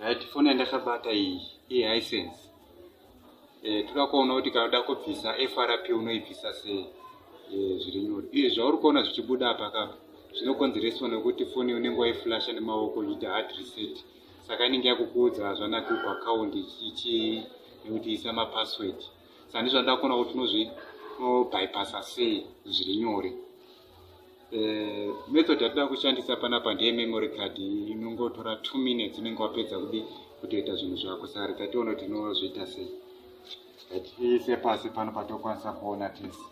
right foni yandakabata iyi ihisense eh, toda kuona kuti kana uda kubvisa frp unoibvisa sei eh, zviri nyore izvi zvauri kuona zvichibuda apa kapa zvinokonzereswa nekuti foni unenge waiflasha nemaoko uchiita hard reset saka inenge yakukuudza hazvanaki uku akaundi ichichi nekuti isa mapassword saka ndizvo ndakona kuti unobypassa sei zviri nyore Eh, method yatida kushandisa panapa ndiye memory card inongotora two minutes unenge wapedza kudi kutoita zvinhu zvako sari tationa kuti inozviita sei ise pasi pano patokwanisa kuona tese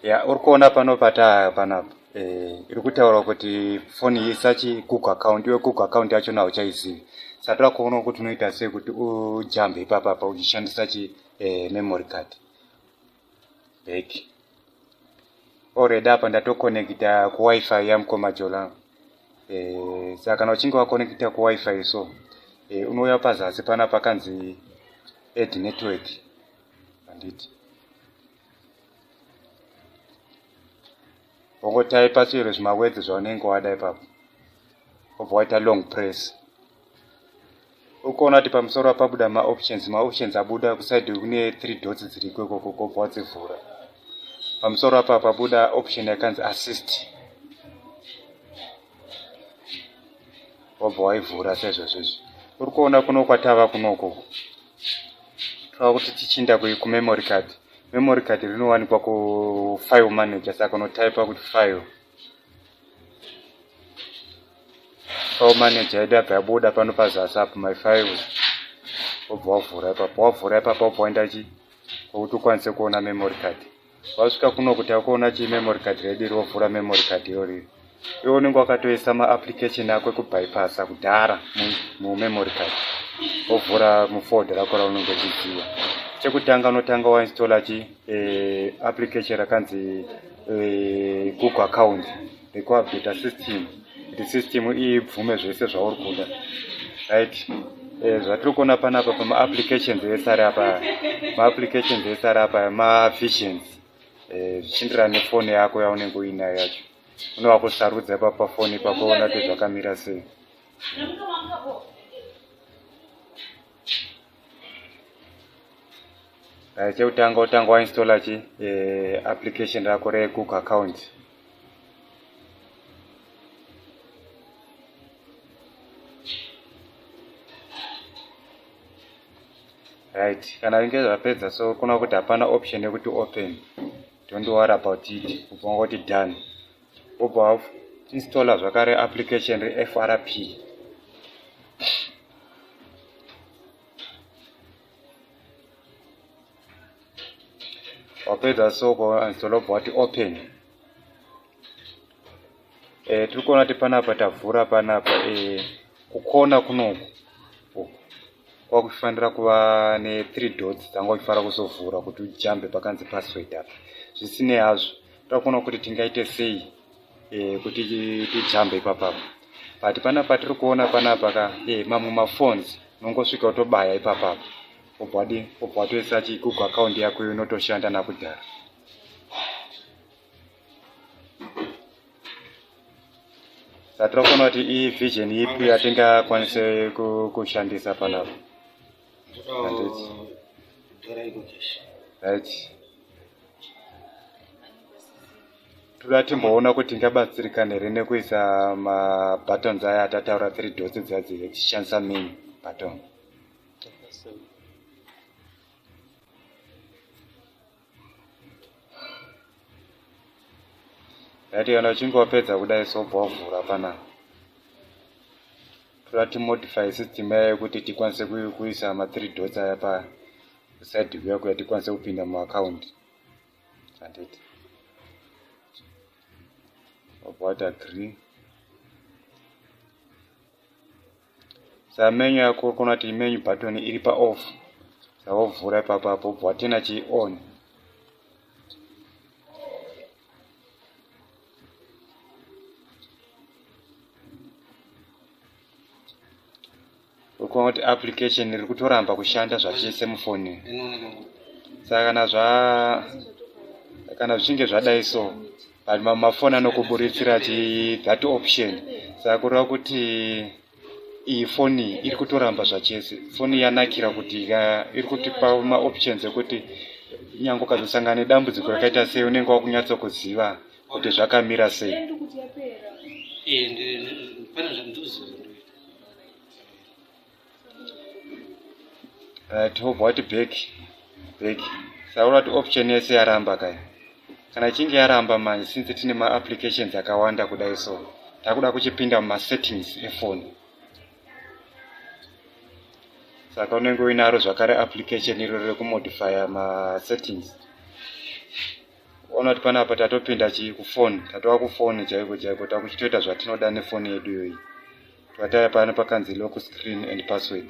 ya uri kuona pano pataa panapa eh, iri kutaura kuti foni iyi sachi google account iwe google account yacho na uchaizivi sati wakuona kuti unoita sei kuti ujambe ipapapa uchishandisa chi eh, memory card back already apa ndatokonekita kuwifi yamukoma jola eh, saka kana uchinge wakonekita kuwifi so eh, unouya pazasi pana pakanzi ed network handiti wongotaipa chero zvimawedzi zvaunenge wada ipapo obva waita long press ukuona kuti pamusoro pabuda maoptions maoptions abuda kuside kune three dots dziriko ikoko kobva wadzivhura pamusoro apa pabuda option yakanzi assist wobva waivhura sezvozvo izvi uri kuona kuno kwatava kunoko tova kuti tichinda kumemory card memory card rinowanikwa kufile manager saka unotaipa kuti file Pao manager yedu yabva yabuda pano pazasi apo my files wobva wavhura ipapo wavhura ipapo wobva waenda chi kwekuti ukwanise kuona memory card wasvika kuno kuti akuona chi memory card redu iri wovhura memory card iyo riri iwe unenge wakatoisa maapplication ako ekubypassa kudhara mumemory card wovhura mufolder rako raunenge uchiziva chekutanga unotanga wainstalla chii eh, application rakanzi eh, google account rekuupdata system kuti system ibvume zvese zvauri kuda right eh, zvatiri kuona panapa pamaapplications ese ari apa maapplications ese ari apa mavisions eh, zvichienderana nefoni yako yaunenge uinayo yacho unova kusarudza ipapo pafoni ipapo ona kuti zvakamira sei uh, chekutanga utanga wainstalla chi uh, application rako regoogle account right kana vinge zvapedza so kuna kuti hapana option yekuti open don't worry about it kubva kuti done wobva wainstalla zvakare application refrp wapedza so kwainstalla wobva wati open e, tiri kuona kuti panapa tavhura panapa e, kukona kunoku kwakufanira kuva ne3 dots dzanga uchifanira kuzovhura kuti ujambe pakanzi password apa zvisinei hazvo takuona kuti tingaite sei e, kuti tijambe ipapapa but pana patiri kuona panapa ka e, mamwe maphones unongosvika utobaya ipapapa obwadi obwa toisa chigoogle account yako iyo inotoshanda nakudhara satira kuona kuti ivision ipi yatingakwanise kushandisa panapa toda timboona kuti ndabatsirikana here nekuisa mabuttons aya atataura three dots dzadzi tichishandisa main button Ndati kana uchinge wapedza kudai sobva wavhura panapa. Toda timodify system yayo kuti tikwanise kuisa ma three dots aya pa side view yako yatikwanise kupinda mu account. Handiti. Wabva wati agree. sa menu yako kona kuti menu button iri pa off sawovhura ipapa apo bva watena chi on ukuona kuti application iri kutoramba kushanda zvachese mufoni saka kana zva kana zvichinge zvadai so but mafoni anokuburitsira ti that option saka kureva kuti iyi foni iri kutoramba zvachese foni yanakira kuti iri kutipa maoptions ekuti nyange ukazosangana nedambudziko rakaita sei unenge wakunyatso kuziva kuti zvakamira sei eh, right hobva wati back back saura kuti option yese yaramba kaya kana ichinge yaramba manje since tine maapplications akawanda kudai so takuda kuchipinda mumasettings efoni saka unenge uinaro zvakare application iro rekumodifya masettings ona kuti panapa tatopinda chii kufoni tatova kufoni chaiko chaiko takuchitoita zvatinoda nefoni yedu iyoyi bataya pano pakanzi lock screen and password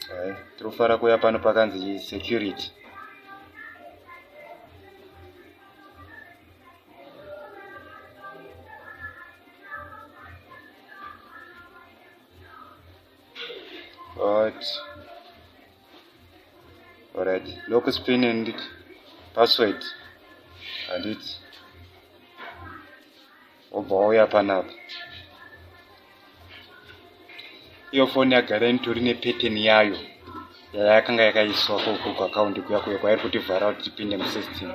hai tiri kufara kuya pano pakanzi security but Alright, lock spin and password handiti wobva wauya panapa iyo foni yagara initori nepeteni yayo yayakanga yakaiswa koko kuakaundi kuya kuya kwairi kutivhara kuti tipinde musystem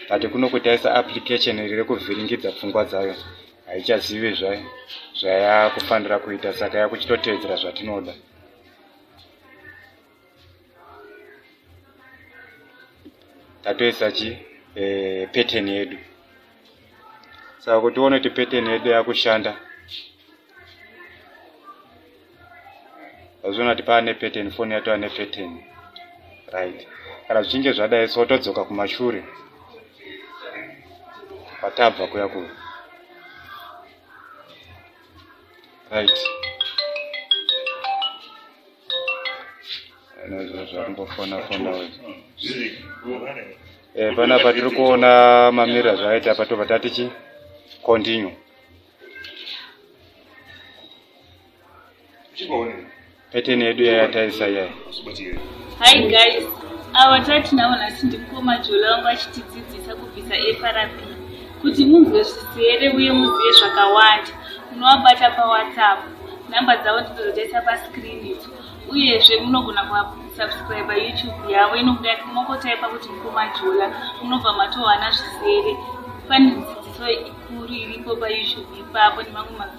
but kuno kutaisa application riri kuvhiringidza pfungwa dzayo haichazivi zvayo zvayakufanira kuita saka yakuchitotevedzera zvatinoda tatoisa chi eh, pattern yedu saka kuti uone kuti pattern yedu yakushanda azviona kuti paane pattern foni yato ane pattern right kana zvichinge zvadai so todzoka kumashure kwatabva kuya kuya right eh, panapa tiri kuona mamira zvaita apa tobva tatichi continue Pattern yedu yaya taisa yaya. Hi guys, awa tatinavo nhasi ndikoma Jola wangu achitidzidzisa kubvisa FRP kuti munzwe zvisere uye muzive zvakawanda. Munovabata paWhatsApp, nhamba dzavo ndidzo dzataisa pascreen idzo. Uyezve munogona kusubscriber YouTube yavo inokuda mokotypa kuti mukoma Jola munobva matowana zvisere. Pane dzidziso ikuru iripo paYouTube ipapo nemamwe